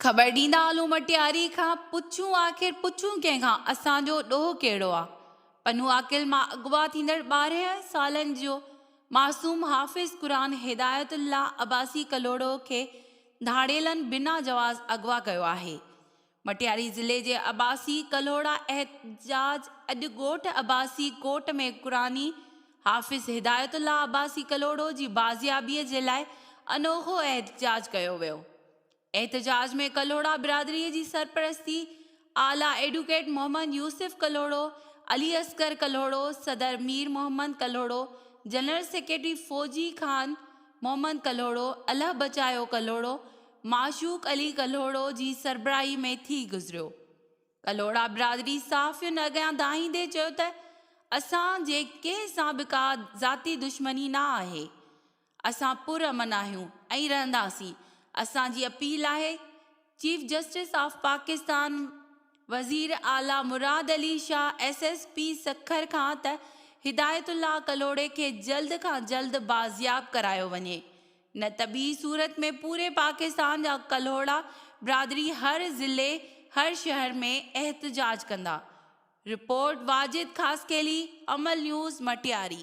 خبر ڏيندا هلون مٽياري کان پڇون آخر پڇون ڪنهن کان اسان جو ڏوهه ڪهڙو آ پنهون عاقل مان اغوا ٿيندڙ ٻارهن سالن جو معصوم حافظ قرآن هدايت الله عباسي ڪلهوڙو کي ڌاڙيلن بنا جواز اغوا ڪيو آهي مٽياري ضلعي جي عباسي ڪلهوڙا احتجاج اڄ ڳوٺ عباسي ڪوٽ ۾ قرآني حافظ هدايت الله عباسي ڪلهوڙو جي بازيابي جي لاء انوکو احتجاج ڪيو ويو احتجاج ۾ ڪلهوڙا برادري جي سرپرستي اعليٰ ايڊوڪيٽ محمد يوسف ڪلهوڙو علي اصغر ڪلهوڙو صدر مير محمد ڪلهوڙو جنرل سيڪريٽري فوجي خان محمد ڪلهوڙو الله بچايو ڪلهوڙو معشوق علي ڪلهوڙو جي سربراهي ۾ ٿي گذريو. ڪلهوڙا برادري صحافين اڳيان دانهيندي چيو ته اسان جي ڪنهن سان به ڪا ذاتي دشمني نه آهي، اسان پر امن آهيون ۽ رهنداسين، اسان جي اپيل آهي چيف جسٽس آف پاڪستان وزير اعليٰ Murad Ali Shah S S P Sukkur کان ته هدايت الله ڪلهوڙي کي جلد کان جلد بازياب ڪرايو وڃي نه ته ٻي صورت ۾ پوري پاڪستان جا ڪلهوڙا برادري هر ضلعي هر شهر ۾ احتجاج ڪندا. Report, Wajid Khaskheli, Amal news, Matiari.